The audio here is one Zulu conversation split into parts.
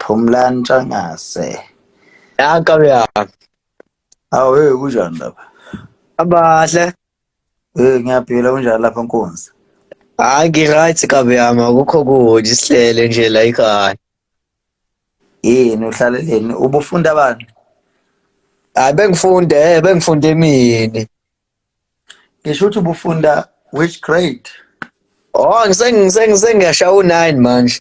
Phumlani Ntshangase. Ya kabi ya. Awu hey kunjani lapha? Abahle. Eh ngiyaphila kunjani lapha Nkunzi? Hayi ngi-right kabi yami akukho kuthi sihlele nje la ekhaya. Yini uhlaleleni? Ubufunda abantu? Hayi bengifunde, eh, bengifunde emini. Ngisho ukuthi ubufunda which grade? Oh ngisengise ngiyashaya u9 manje.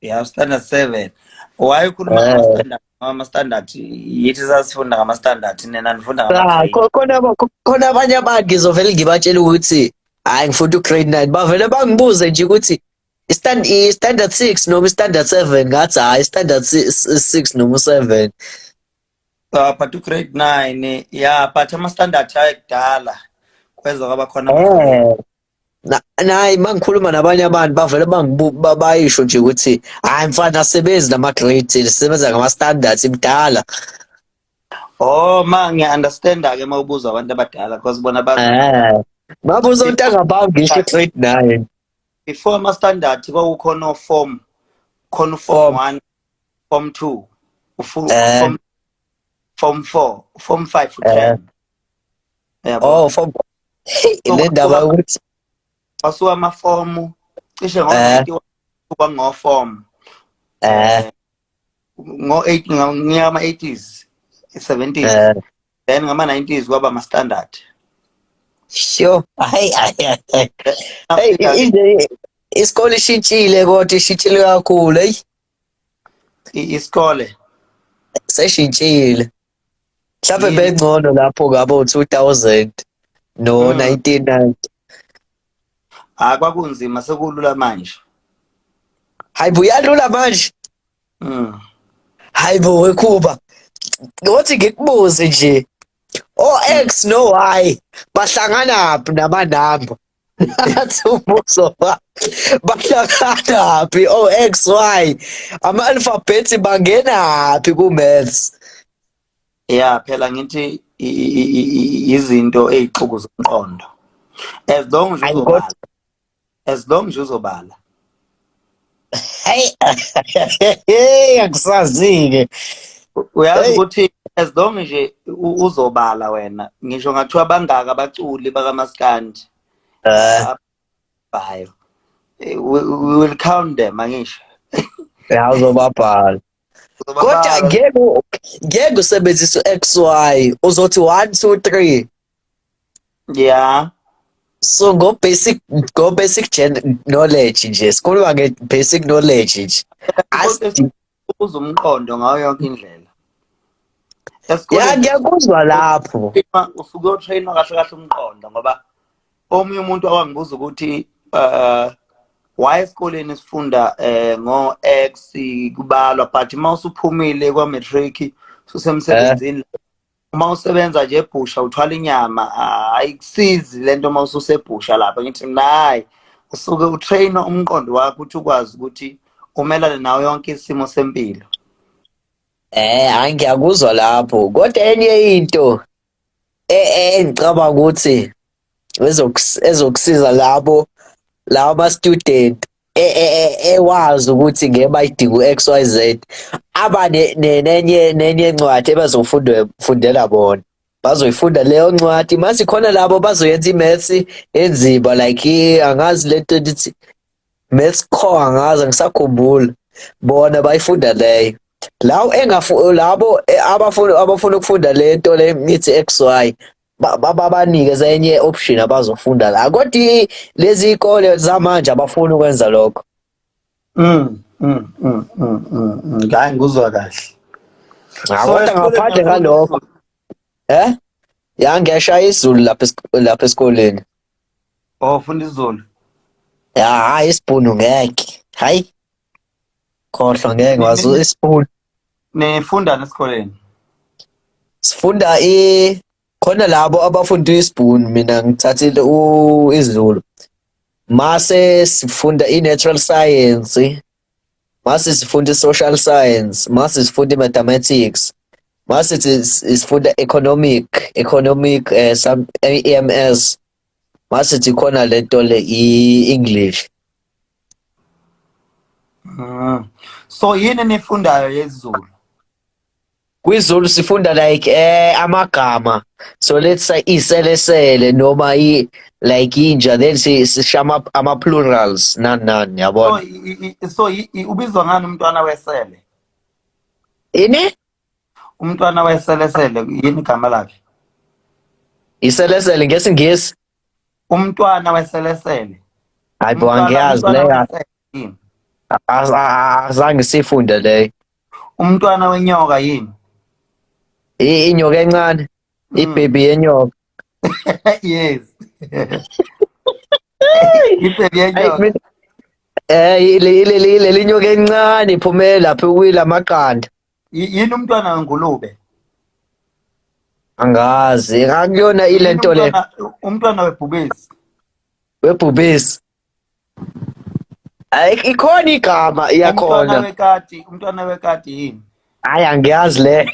ya standard seven wayekhuluma Eh. ngama-standard ama-standard yithi sasifunda ngama-standard nina nifunda Ah, ngama-grade. kho- khona aba- kho- khona abanye abantu ngizovele ngibatshela ukuthi hayi ngifunda ugrade 9 bavele bangibuze nje ukuthi istand i-standard 6 noma i-standard 7 ngathi hayi i-standard 6 noma u-7 Ah, but ugrade nine ya but ama-standard ayekudala kweza kwaba khona ama-grade. Eh, Na- nayi mangikhuluma nabanye abantu bavele bangibu- ba- bayisho nje ukuthi hayi mfana asebenzi nama grades sisebenza ngama standards imdala Oh ma ngiya understand ke uma ubuza abantu abadala because bona ba eh baba uzontanga bawo ngisho grade 9 before ama standard kwakukhona o form khona u form Form. 1 form 2 ufu Eh. form form 4 form 5 Eh. uthanda Uyabo? Oh, form. Le ndaba yokuthi kwasuka amafomu cishe Eh. ngo-91 kuba ngofomu eh ngo-8 ngonyaka ama-80s 70s eh then ngama-90s kwaba ama-standard sure. Hayi hayi hayi. Hey, Africa- i- i- isikole ishintshile kodwa ishintshile kakhulu. Hey. isikole seshintshile mhlawumbe bengcono lapho ngabo 2000 no 1990 ah kwakunzima sekulula manje hayibo uyalula manje mm hayibo wekhuba ngothi ngikubuze nje o-x no-y bahlanganaphi namanamba That's umbuzo ba. Bahlakana phi o XY? Ama alphabets bangena phi ku maths? Yeah, phela ngithi izinto ezixuku zomqondo. As long nje uzobala. As long nje uzobala. Hey, hey, akusazike. Uyazi ukuthi as long nje uzobala wena ngisho ngathiwa bangaka abaculi bakamaskandi eh. bayo eh, we will count them angisho ya uzobabhala kodwa ngeke ngeke usebenzise u-xy uzothi 1 2 3 Yeah. So ngo basic ngo basic gen knowledge nje sikhuluma nge basic knowledge nje. Asi- Ubuza umqondo ngayo yonke indlela. Ya Esikoleni ngiyakuzwa lapho. uma usuke utrainwa kahle kahle umqondo ngoba omunye umuntu awangibuza ukuthi uh why esikoleni sifunda eh ngo X kubalwa but uma usuphumile kwa matric susemsebenzini uma usebenza nje ebhusha uthwala inyama ah, ayikusizi le nto uma ususebhusha lapha ngithi mna hayi usuke utraina umqondo wakho ukuthi ukwazi ukuthi umelane nawo yonke isimo sempilo Eh hayi ngiyakuzwa lapho. Kodwa enye into e- e- engicabanga ukuthi ezokusiza labo lawo ama-student e, e, e, ewazi ukuthi ngeke bayidinga u-x y z aba nenye nenye ncwadi ebazofundela bona bazoyifunda leyo ncwadi mase khona labo bazoyenza i-maths enzima like angazi le nto ndithi maths kho angazi angisakhumbula bona bayifunda leyo lawo engafu labo abafuna abafuna ukufunda lento le ngithi XY babanike zenye option abazofunda la kodwa lezi ikole zamanje abafuni ukwenza lokho mm mm mm mm, mm, mm. ngayi nguzwa kahle kodwa ngaphandle ngalokho eh yangeshaya izulu lapha lapha esikoleni oh funda izulu ya hayi isibhunu ngeke hayi khohlwa ngeke wazi isifundo nifundani esikoleni sifunda i khona labo abafunda isibhunu mina ngithathile u- isiZulu mase sifunda i-natural science mase sifunda i-social science mase sifunda i-mathematics mase si- si- sifunda economic economic eh, some EMS masithi khona lento le i-english mm. so yini nifundayo yezulu kwizulu sifunda like eh amagama so let's say iselesele noma i like inja then si sishama ama plurals nan nan yabona so ubizwa ngani umntwana wesele ini umntwana wayeselesele yini igama lakhe iselesele ngesingisi umntwana weselesele hayi bo angiyazi leyo azange sifunde leyo umntwana wenyoka yini inyoka encane hmm. ibhebi yenyoka yes ibhebi yenyoka eh leli nyoka encane iphumele lapha kuyila maqanda Y- yini umntwana wengulube angazi ngakuyona ile Yini nto le umntwana- umntwana webhubesi webhubesi Ay, ikhona igama umntwana iyakhona wekati umntwana wekati yini hayi angiyazi leyo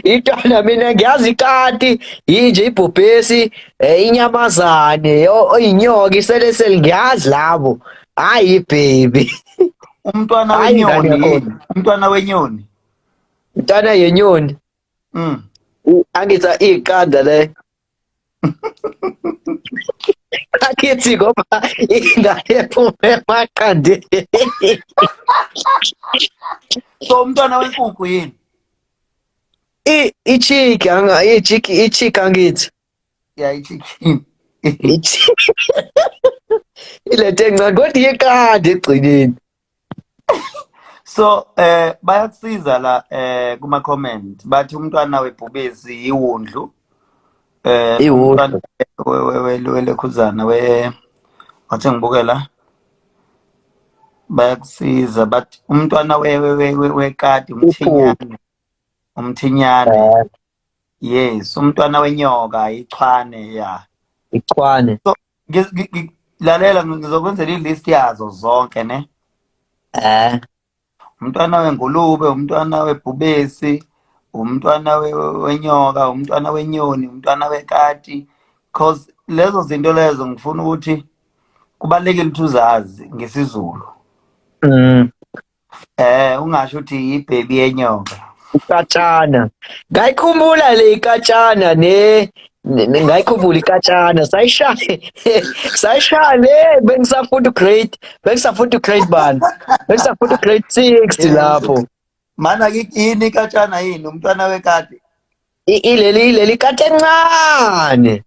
itona mina ngiyazi ikati yinje ibhubhesi eh, inyamazane o- oyinyoka iseleseli ngiyazi labo hayi ibhebi umntwana Hayi, ingane wenyoni yakhona. yini? umntwana wenyoni Mntana yenyoni. mm. U- Angithi iqanda le. Akithi ngoba ingane ephume emaqandeni. so umntwana wenkukhu yini I ichiki anga ichiki ichiki angithi. ya ichicken ilethe encane kodwa iyeqanda egcineni so eh bayakusiza la eh kuma comment bathi umntwana webhubesi yiwundlu eh iwundlu welekhuzana we wathi ngibukela bayakusiza but umntwana wekati umthinyane umthinyane eh. yes umntwana wenyoka ichwane ya ichwane so, ngi- ngi- ngi- lalela ngizokwenzela ilist yazo zonke ne eh umntwana wengulube umntwana webhubesi umntwana we- we- wenyoka umntwana wenyoni umntwana wekati cause lezo zinto lezo ngifuna ukuthi kubalulekile ukuthi uzazi ngesizulu mm. Eh ungasho ukuthi yibhebi yenyoka. Ikatshana. Ngayikhumbula le ikatshana ne ngayikhumbula ikatshana sayishaya sayishaya le bengisafunda grade bengisafunda grade bani bengisafunda grade 6 lapho mana yini ikatshana yini umntwana wekati ileli ileli kati encane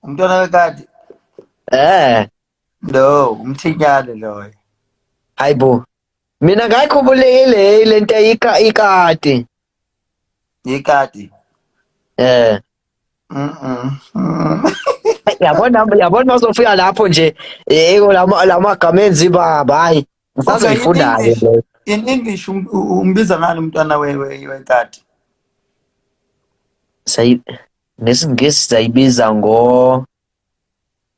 umntwana wekati eh No, umthinyane loyo. Hayibo. Mina ngayikhumbulekile lento ika ikati. Ikati. Eh. Mhm. Yabona yabona mazofika lapho nje yebo lama lamagama enzi baba hayi. Ngisazoyifundayo le. In English um, umbiza ngani umntwana we we wekati? Say ngesingisi sayibiza ngo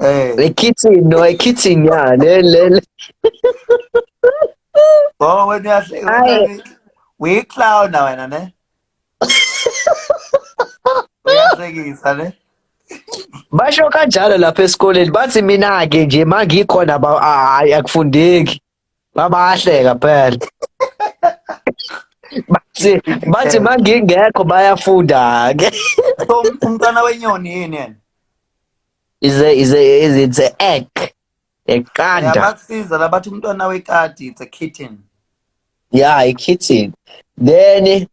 Eh. Ekitchen no ekitchen ya le le. le. Oh wena uyahle. Hayi. We clown na wena ne. Uyahlekisa ne. Basho kanjalo lapha esikoleni bathi mina ke nje mangikhona ba- hayi akufundeki. babahleka phela bathi bathi mangingekho bayafunda ke so umntwana wenyoni yini yena is a is a is it's a egg eqanda yabakusiza labathi umntwana wekati it's a kitten yeah a kitten then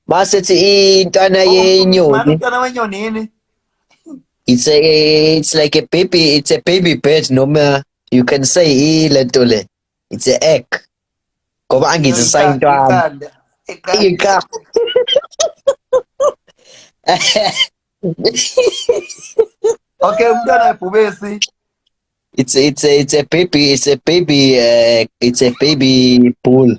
basethi intwana oh, yenyoni intwana wenyoni yini it's a it's like a baby it's a baby bird noma you can say ilento le it's a egg ngoba angithi sayintwana iqa okay umntwana ebhubesi it's it's a, it's a baby it's a baby uh, it's a baby bull